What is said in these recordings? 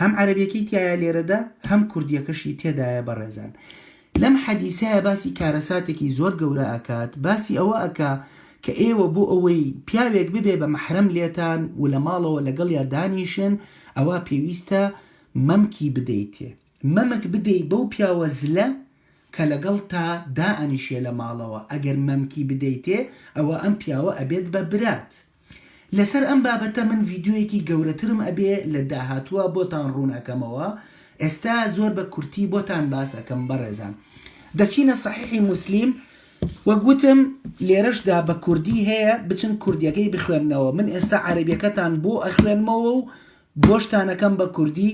هەم عەرەبیەکەی تیایە لێرەدا هەم کوردیەکەشی تێدایە بەڕێزان لەم حەدیسەیا باسی کارەساتێکی زۆر گەورە ئەکات باسی ئەوە ئەکا کە ئێوە بۆ ئەوەی پیاوێک ببێ بە مەحرەم لێتان و لە ماڵەوە لەگەڵیا دانیشن ئەوا پێویستە مەمکی بدەیتێ مەمک بدەی بەو پیاوە زلە کە لەگەڵتا دائەنیشێ لە ماڵەوە ئەگەر مەمکی بدەیتێ ئەوا ئەم پیاوە ئەبێت بە برات لەسەر ئەم بابەتە من ڤیدیۆیەکی گەورەترم ئەبێ لە داهاتووە بۆتان ڕوون ئەکەمەوە ئێستا زۆر بە کورتی بۆتان باس ئەکەم بەڕێزان دەچینە صحیحی موسلیم وەک وتم لێرەشدا بە کوردی هەیە بچن کوردیەکەی بخوێنەوە من ئێستا عەرەبیەکەتان بۆ ئەخوێنمەوە و بۆ شتانەکەم بە کوردی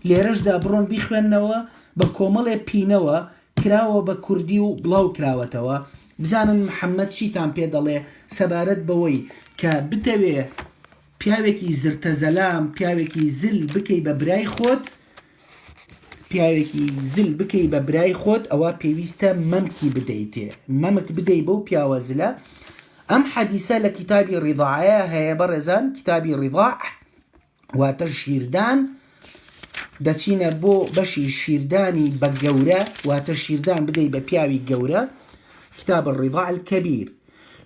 لێرەشدا بڕۆن بیخوێننەوە بە کۆمەڵێ پینەوە کراوە بە کوردی و بڵاو کراوەتەوە بزانن محەممەد چیتان پێ دەڵێ سەبارەت بەوەی کە بتەوێ پیاوێکی زرتە زەلام پیاوێکی زل بکەی بە برای خۆت پیاوێکی زل بکەی بە برای خۆت ئەوە پێویستە مەمکی بدەیتێ مەمک بدەی بەو پیاوە زلە ئەم حەدیسە لە کتابی ڕیضاعەیە هەیە بەڕێزان کتابی ڕیضاع واتە شیردان دەچینە بۆ بەشی شیردانی بە گەورە واتە شیردان بدەی بە پیاوی گەورە کتاب الرضاع الكبير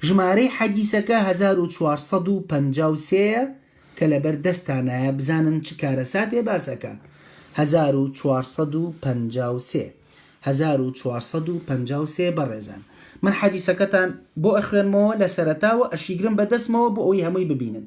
ژمارەی حەدیسەکە 1453 کە لەبەر دەستانایە بزانن چ کارەساتێ باسەکە 1453 1453 بەڕێزان من حەدیسەکەتان بۆ ئەخوێنمەوە لە سەرتاوە ئەشیگرم بە دەستمەوە بۆ ئەوەی هەمووی ببینن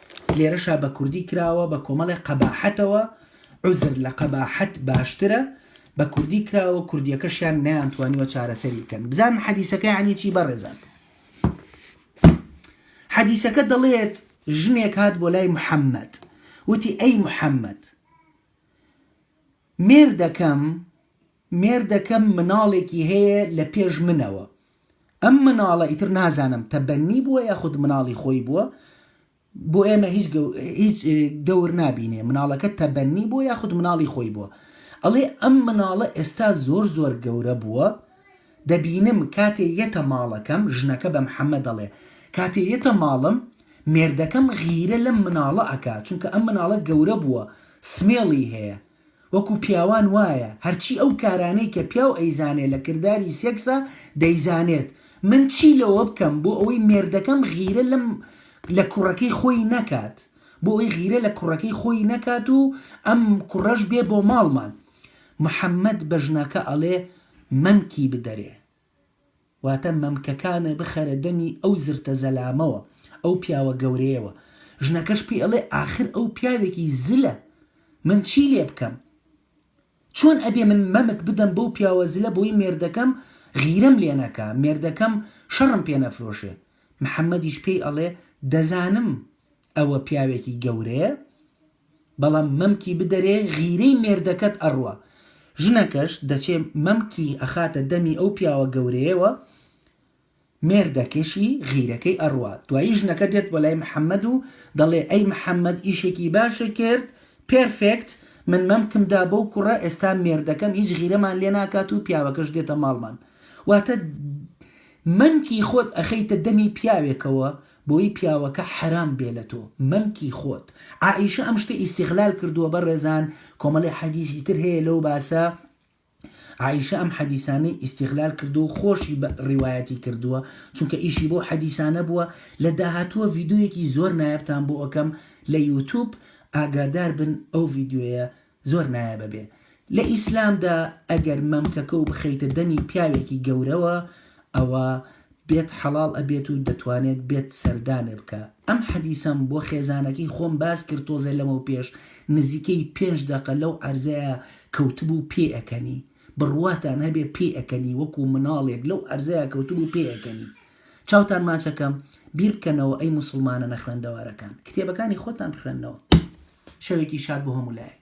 لێرەشا بە کوردی کراوە بە کۆمەڵێ قەباحەتەوە، عوزر لە قەباحەت باشترە، بە کوردی کراوە کوردیەکەشیان نەیانتوانیوە چارەسەری بکەن. بزانن حەدیسەکە یانی چی بەڕێزان. حەدیسەکە دەڵێت ژنێک هات بۆ لای محەممەد وتی ئەی محەممەد مێردەکەم مێردەکەم مناڵێکی هەیە لە پێش منەوە ئەم مناڵە ئیتر نازانم تەبەنی بووە یاخود مناڵی خۆی بووە بۆ ئێمە هیچ گەو هیچ دەور نابینێ مناڵەکە تەبەنی بووە یاخود مناڵی خۆی بووە ئەڵێ ئەم مناڵە ئێستا زۆر زۆر گەورە بووە دەبینم کاتێ یەتە ماڵەکەم، ژنەکە بە محەمەد دەڵێ، کاتێ یەتە ماڵم، مێردەکەم غیرە لەم مناڵە ئەکا، چونکە ئەم مناڵە گەورە بووە، سمێڵی هەیە. وەکو پیاوان وایە، هەرچی ئەو کارانەی کە پیاو ئەیزانێ لە کرداری سێکسا، دەیزانێت. من چی لەوە بکەم بۆ ئەوەی مێردەکەم غیرە لەم لە کوڕەکەی خۆی نەکات؟ بۆ ئەوەی غیرە لە کوڕەکەی خۆی نەکات و ئەم کوڕەش بێ بۆ ماڵمان. محەمەد بە ژنەکە ئەڵێ، مەمکی بدەرێ واتە مەمکەکانە بخەرە دەمی ئەو زرتە زەلامەوە ئەو پیاوە گەورەیەوە ژنەکەش پێی ئەڵێ ئاخر ئەو پیاوێکی زلە من چی لێ بکەم چۆن ئەبێ من مەمک بدەم بەو پیاوە زلە بۆی مێردەکەم غیرەم لێ نەکا مێردەکەم شەڕم پێ نەفرۆشێ محەمەدیش پێی ئەڵێ دەزانم ئەوە پیاوێکی گەورەیە بەڵام مەمکی بدەرێ غیرەی مێردەکەت ئەڕوا ژنەکەش دەچێ مەمکی ئەخاتە دەمی ئەو پیاوە گەورەیەوە مێردەکەشی غیرەکەی ئەڕوا دوایی ژنەکە دێت بۆ لای محمد و دەڵێ ئەی محمد ئیشێکی باشت کرد پێرفێکت من مەمکم دا بەو کوڕە ئێستا مێردەکەم هیچ غیرەمان لێ ناکات و پیاوەکەش دێتە ماڵمان واتە مەمکی خۆت ئەخەیتە دەمی پیاوێکەوە بۆیی پیاوەکە حەرام بێ لە تۆ مەمکی خۆت عائیشە ئەم شتە ئیستیغلال کردووە بەڕێزان کۆمەڵێ حەدیسی تر هەیە لەو باسە عائیشە ئەم حەدیسانەی ئیستیغلال کردووە و خۆشی بە ڕیوایەتی کردووە چونکە ئیشی بەو حەدیسانە بووە لە داهاتووە ڤیدۆیەکی زۆر نایابتان بۆ ئەکەم لە یوتوب ئاگادار بن ئەو ڤیدیۆیە زۆر نایابە بێ لە ئیسلامدا ئەگەر مەمکەکەو بخەیتە دەمی پیاوێکی گەورەوە ئەوا بێت حەڵاڵ ئەبێت و دەتوانێت بێت سەردانێ بکا ئەم حەدیسەم بۆ خێزانەکەی خۆم باس کرد تۆزێ لەمەو پێش نزیکەی پێنج دەقە لەو عەرزەیا کەوتبوو پێ ئەکەنی بڕواتان هەبێ پێ ئەکەنی وەکو مناڵێک لەو عەرزەیا کەوتبوو پێ ئەکەنی چاوتان ماچەکەم بیر بکەنەوە ئەی موسڵمانە نەخوێندەوارەکان کتێبەکانی خۆتان بخوێنەوە شەوێکی شاد بۆ هەموو لایەک.